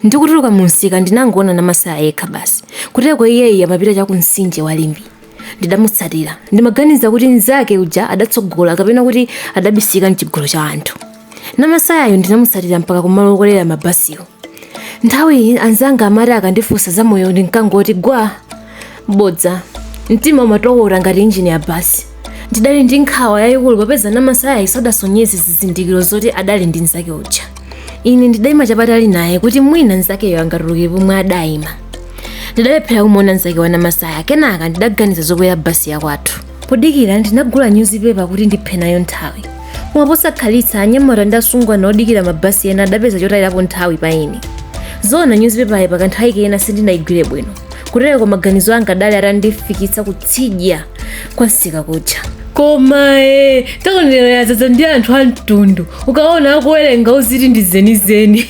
Ndikutuluka mumsika ndinangoona Namasaya yekha basi. Kuteko iyeyi amapita cha ku mtsinje wa Limbi. Ndidamutsatira. Ndimaganiza kuti mnzake uja adatsogola kapena kuti adabisika m'chigulu cha anthu. Namasayayo ndinamutsatira mpaka kumalo okwelera mabasiwo. Nthawiyi anzanga amati akandifunsa za moyo ndinkangoti gwa. bodza mtima umatokota ngati injini ya basi ndidali ndi nkhawa yayikulu popeza namasaya sadasonyeze zizindikiro zoti adali ndi mnzake uja ine ndidayima chapatali naye kuti mwina mnzakeyo angatuluke pomwe adayima ndidalephera kumuona mnzake wa namasaya kenaka ndidaganiza zokwera basi yakwathu podikira ndinagula nyuzipepa kuti ndiphe nayo nthawi koma posakhalitsa anyamata ndi asungwana odikira mabasi ena adapeza chotayirapo nthawi pa ine zoona nyuzipepayi pakanthawi kena sindinayigwire bwino kutereko maganizo anga adali atandifikitsa kutsidya kwa msika kuja koma e takonero yadzadza ndi anthu a mtundu ukaona akuwerenga uziti ndi zenizeni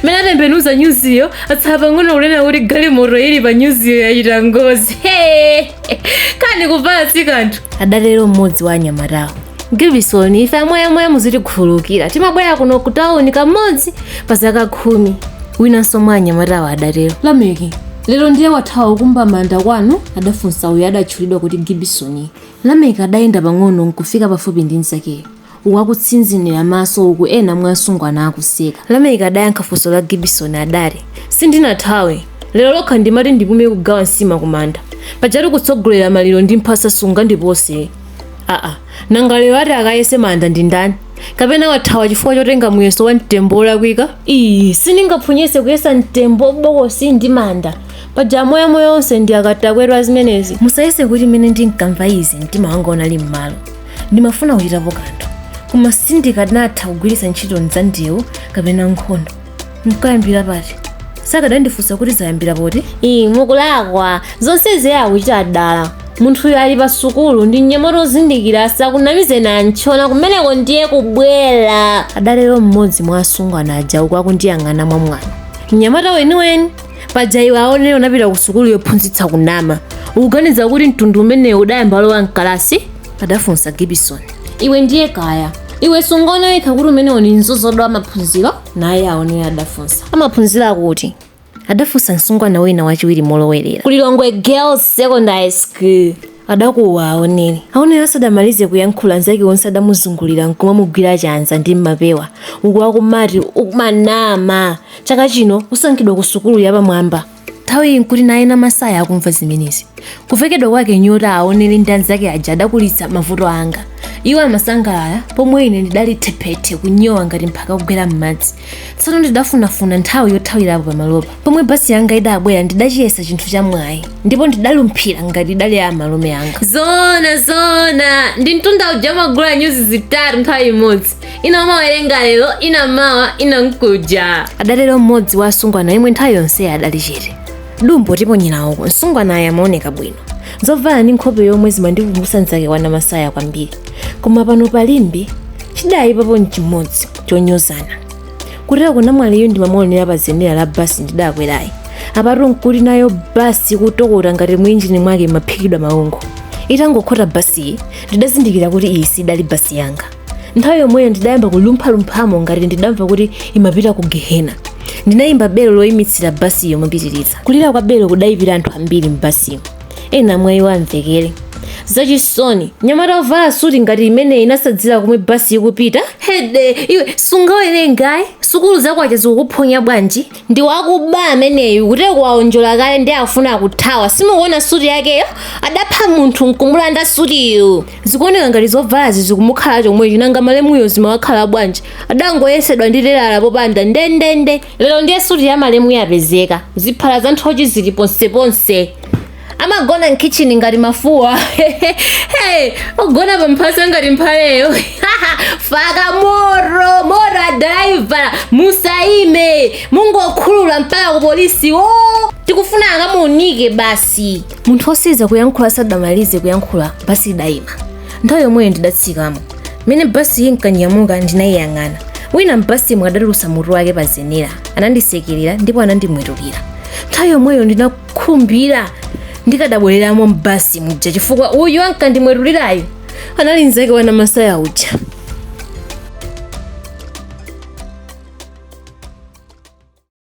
mmene atembenuza nyuziyo atsala pang'ono kunena kuti galimoto ili pa nyuziyo yachita ngozi kani kuvala si kanthu adatero mmodzi wa anyamatawo gibisoni ife amoyamoya muzitikhululukira timabwera kuno ku tawuni kamodzi pa zaka khumi winanso mwa anyamatawo adatero lameki lero ndiye wathawa ukumba manda kwanu adafunsa uyo adatchulidwa kuti gibisoni lameki adayenda pang'ono nkufika pafupi ndi mnzakeyo uku akutsinzinira maso uku ena mwa asungwana akuseka lameki adayankha funso la gibisoni adati sindinathawe lero lokha ndimati ndipume kugawa nsima kumanda pajatu kutsogolera maliro ndi mphasa sungandipose aa nanga lero ati akayese manda ndi ndani kapena wathawa chifukwa chotenga muyeso wa mtembo wolakwika iyi sindingaphonyetse kuyesa mtembo bokosi ndi manda paja amoyamoya onse ndi akatakwe a zimenezi musayese kuti mmene ndinkamva izi mtima wanga unali m'malo ndimafuna kuchitapo kanthu koma sindikanatha kugwiritsa ntchito za ndewu kapena nkhondo nkayambira pati sakadandifunsa kuti zayambira poti iyi mukulakwa zonsezi iye akuchita dala munthuyo ali pa sukulu ndi mnyamata ozindikira asakunamizeni antchona kumeneko ndiye kubwera adatero mmodzi mwa asungwana aja uku akundiyang'ana mwamwano mnyamata weniweni paja iwe aonere unapita ku sukulu yophunzitsa kunama ukuganiza kuti mtundu umenewu udayamba lowa mkalasi adafunsa gibison iwe ndiye kaya iwe sungaona wekha kuti umenewo ni mzozodo wa maphunziro naye aonere adafunsa amaphunziro akuti adafunsa msungwana wina wachiwiri molowerera ku lilongwe girls secondary school Adakuwa Aoneli. Aoneli asadamalize kuyankhula anzake onse adamuzungulira nkumamugwira chanza ndi mmapewa uku akumati Sukumanama chaka chino usankhidwa ku sukulu yapamwamba nthawi iyi nkuti naye Namasaya akumva zimenezi kuvekedwa kwake nyota aoneli ndi anzake aja adakulitsa mavuto anga iwo amasangalala pomwe ine ndidali thephethe kunyowa ngati mphaka kugwera m'madzi tsono ndidafunafuna nthawi yothawirapo pamalopa pomwe basi yanga idabwera ndidachiyesa chinthu cha mwayi ndipo ndidalumphira ngati idali ya malume anga zona zona ndi mtunda uja umagula nyuzi zitatu nthawi imodzi ina umawerenga lero ina mawa ina mkuja adatero mmodzi wa asungwana yemwe nthawi yonseyi adali chete dumbo tiponyera uko msungwanayo amaoneka bwino zovala ndi nkhope yomwe zimandikumbutsa mzake wa Namasaya kwambiri koma pano pa Limbe chidayipapo nchimodzi chonyozana kutereku namwaliyu ndimamuonera pa zenera la basi ndidakwerayi apatu nkuti nayo basi kutokota ngati mwinjini mwake imaphikidwa maungu itangokhota basiyi ndidazindikira kuti iyi sidali basi yanga nthawi yomweyo ndidayamba kulumphalumphamo ngati ndidamva kuti imapita ku gehena ndinayimba belo loyimitsira basiyo mopitiriza kulira kwa belo kudayipira anthu ambiri m'basiyo ena mwa iwo amvekere zachisoni mnyamata ovala suti ngati imeneyi osadziwa komwe basi ikupita hede iwe sungawerengayi sukulu za kwacha zikukuphonya bwanji ndi wakuba ameneyu kutereku waonjola kale ndiye afuna kuthawa simukuona suti yakeyo adapha munthu nkumulanda sutiyo zikuoneka ngati zovalazi zikumukhala chomwecho nanga malemuyo zimawakhala bwanji adangoyesedwa ndi telala popanda ndendende lero ndiye suti ya malemu yapezeka ziphala za nthochi zili ponseponse amagona mkitchini ngati mafuwa ogona pamphasa ngati mphaleyo faka moro moro adalaivala musaime mungokhulula mpaka ku polisi o tikufuna akamuunike basi munthu otsiriza kuyankhula asadamalize kuyankhula basi idaima nthawi yomweyo ndidatsikamo mmene basiyi inkanyamuka ndinayiyang'ana wina m'basimo adatulutsa mutu wake pa zenera anandisekerera ndipo anandimwetulira nthawi yomweyo ndinakhumbira ndikadabwereramo m'basi muja chifukwa uyu ankandimwetulirayo anali nzake wa Namasaya uja